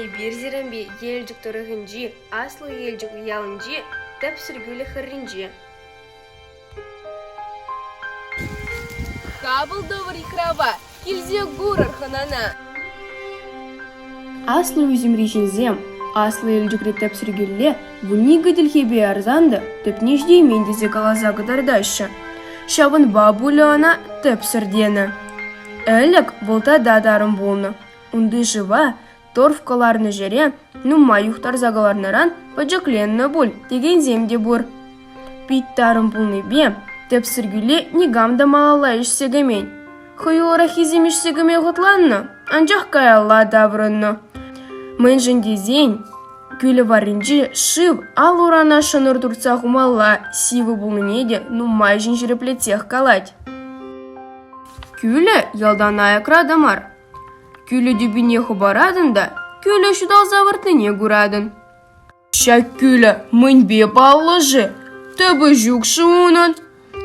Эпир Зерамби Елчӗк тӑрӑхӗнчи Аслӑ Елчӗк ялӗнчи тӗпсӗр кӳлӗ хӗрринче. Хапӑл тӑвӑр йыхрава Килсе курӑр хӑнана. Аслӑ ӳсӗмри ҫынсем Аслӑ Элтӳкре тӗпсӗр кӳлле вунникӗ тилхепе ярсан та тӗпне ҫитеймен тесе каласа кӑтартаҫҫӗ. Ҫавӑнпа пулӗ ӑна тӗпсӗр тенӗ. Ӗлӗк вӑл тата тарӑн пулнӑ. Унти шыва торф кӑларнӑ ҫӗре нумай юхтарса кӑларнӑран пӗчӗкленнӗ пуль текенсем те пур. Пит тарӑн пулнипе тӗпсӗр кӳле никам та малалла ишсе кӗмен. Хӑюлӑраххисем ишсе кӗме хӑтланнӑ, анчах каялла таврӑннӑ. Мӗншӗн тесен кӳлӗ варринче шыв ал-урана шӑнӑр туртса хумалла сивӗ пулнине те нумайӑшӗн ҫирӗплетсех калать. Кӳлӗ ялтан аякра та мар, Кӳлӗ тӳпине хӑпаратӑн та кӳлӗ ҫуталса выртнине куратӑн. Ҫак кӳлӗ мӗнпе паллӑ-ши? Тӑпӑ ҫук-ши унӑн?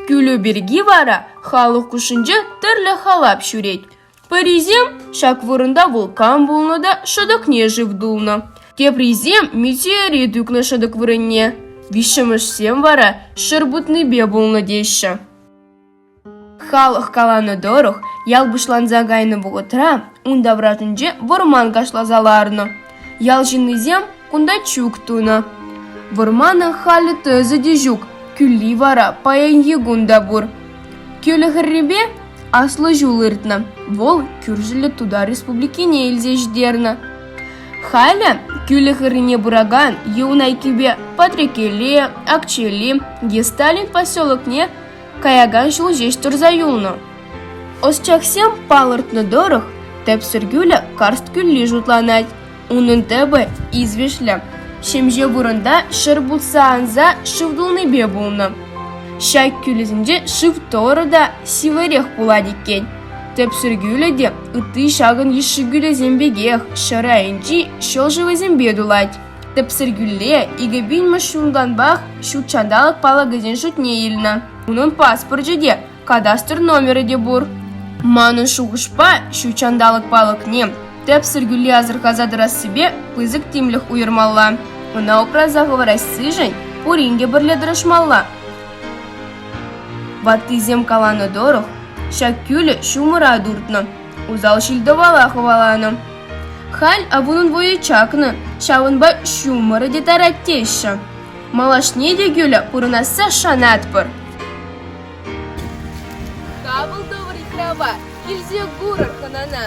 Кӳлӗ пирки вара халӑх хушшинче тӗрлӗ халап ҫӳрет. Пӗрисем ҫак вырӑнта вулкан пулнӑ та шӑтӑкне шыв тулнӑ. Теприсем метеорит ӳкнӗ шӑтӑк вырӑнне. Виҫҫӗмӗшсем вара ҫӗр путнипе пулнӑ теҫҫӗ. Халӑх каланӑ тӑрӑх, ял пуҫланса кайнӑ вӑхӑтра ун таврашӗнче вӑрман кашласа ларнӑ. Ял ҫыннисем кунта чӳк тунӑ. Вӑрмана халӗ тӑсӗ те ҫук, кӳлли вара паянхи кун та пур. Кӳлӗ хӗррипе аслӑ ҫул иртнӗ, вӑл кӳршӗллӗ Тутар Республикине илсе ҫитернӗ. Халӗ кӳлӗ хӗррине пыракан Юнайкипе Патрекеле, Акчели, Гесталин поселокне каякан ҫул ҫеҫ тӑрса юлнӑ. Ӑсчахсем палӑртнӑ тӑрӑх, тӗп сӗркӳлӗ карст кӳлли шутланать. Унӑн тӗпӗ извеҫлӗ. Ҫемҫе вырӑнта ҫӗр путса анса шыв тулнипе пулнӑ. Ҫак кӳлӗсенче шыв тӑрӑ та сивӗрех пулать иккен. Тӗп сӗркӳлӗ те ытти ҫакӑн йышши кӳлӗсем пекех ҫӗр айӗнчи ҫӑл шывӗсемпе тулать. Тӗпсӗр кӳлле икӗ пинмӗш ҫунтанпах ҫут ҫанталӑк палӑкӗсен шутне илнӗ. Унӑн паспорчӗ те, кадастр номерӗ те пур. Манӑн шухӑшпа, ҫут ҫанталӑк палӑкне тӗпсӗр кӳлле асӑрхаса тӑрассипе пысӑк тимлӗх уйӑрмалла. Ӑна упраса хӑварассишӗн пурин те пӗрле тӑрӑшмалла. Ваттисем каланӑ тӑрӑх, ҫак кӳлӗ ҫумӑра туртнӑ, усал ҫил-тӑвала хӑваланӑ. Халь авунӑн вӑйӗ чакнӑ, ҫавӑнпа ҫумӑрӗ те тарать теҫҫӗ. Малашне те кӳлӗ пурӑнасса шанатпӑр. Тапӑл тӑвӑр итрава, килсе курӑр хӑнана!